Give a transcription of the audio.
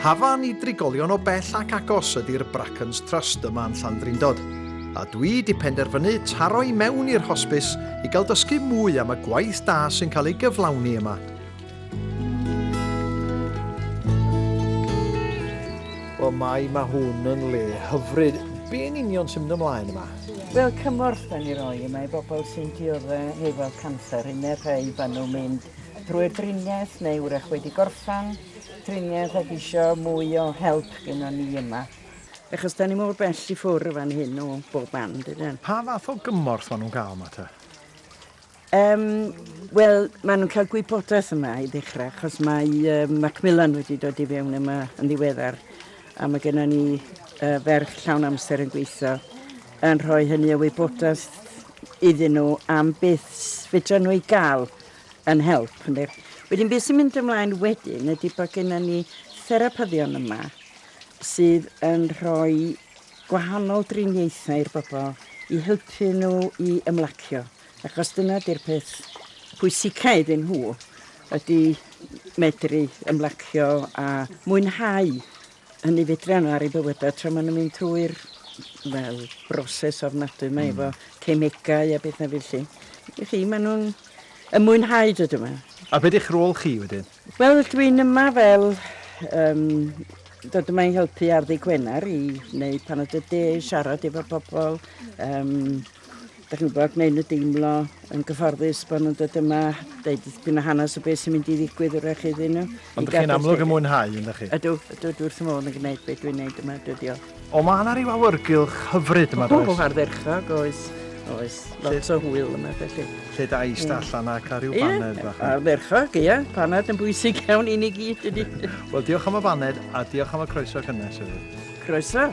Hafan i drigolion o bell ac agos ydy'r Brackens Trust yma yn Llandrindod, a dwi di penderfynu taro i mewn i'r hosbis i gael dysgu mwy am y gwaith da sy'n cael ei gyflawni yma. Wel, mae, mae hwn yn le hyfryd. Be yn union sy'n mynd ymlaen yma? Wel, cymorth dan ni roi yma i bobl sy'n diodde hefo canser, hynny rhai fan nhw'n mynd drwy'r driniaeth neu wrach wedi gorffan triniaeth ac eisiau mwy o help gyda ni yma. Achos da ni mor bell i ffwrdd fan hyn o bob man, dydyn? Pa fath o gymorth maen nhw'n gael yma te? Yym, wel, maen nhw'n cael gwybodaeth yma i ddechrau, achos mae um, Macmillan wedi dod i fewn yma yn ddiweddar, a mae gennym ni uh, ferch llawn amser yn gweithio yn rhoi hynny o wybodaeth iddyn nhw am beth fydra nhw i gael yn help. Ynddo. Wedyn beth sy'n mynd ymlaen wedyn ydy bod gennym ni therapyddion yma sydd yn rhoi gwahanol driniaethau i'r bobl i helpu nhw i ymlacio. Achos dyna 'di'r peth pwysica iddyn nhw, ydi medru ymlacio a mwynhau hynny fedran nhw ar ei bywydau tra maen nhw'n mynd trwy'r wel, broses ofnadwy mae efo hmm. cemegau a beth na felly. I chi, maen nhw'n y mwynhau dod yma. A beth eich rôl chi wedyn? Wel, dwi'n yma fel um, dod yma i helpu ar ddi Gwener i wneud pan oedd y de i siarad efo pobl, um, Dach chi'n gwybod, gwneud nhw deimlo yn gyfforddus bod nhw'n dod yma, deud dipyn o hanes o beth sy'n mynd i ddigwydd wrach iddyn nhw. Ond dych chi'n amlwg yn mwynhau, yn dych chi? Ydw, ydw, dwi wrth fy modd yn gwneud beth dwi'n gwneud yma, dw i. O, mae yna rhyw awyrgylch hyfryd yma, does? O, ardderchog, oes. Oes, lot o hwyl yma, felly. Lle da i ista allan a cael rhyw baned bach. Ie, ardderchog, ie. Paned yn bwysig iawn i ni gyd, ydy. Wel, diolch am y baned a diolch am y croeso cynnes hefyd. Croeso.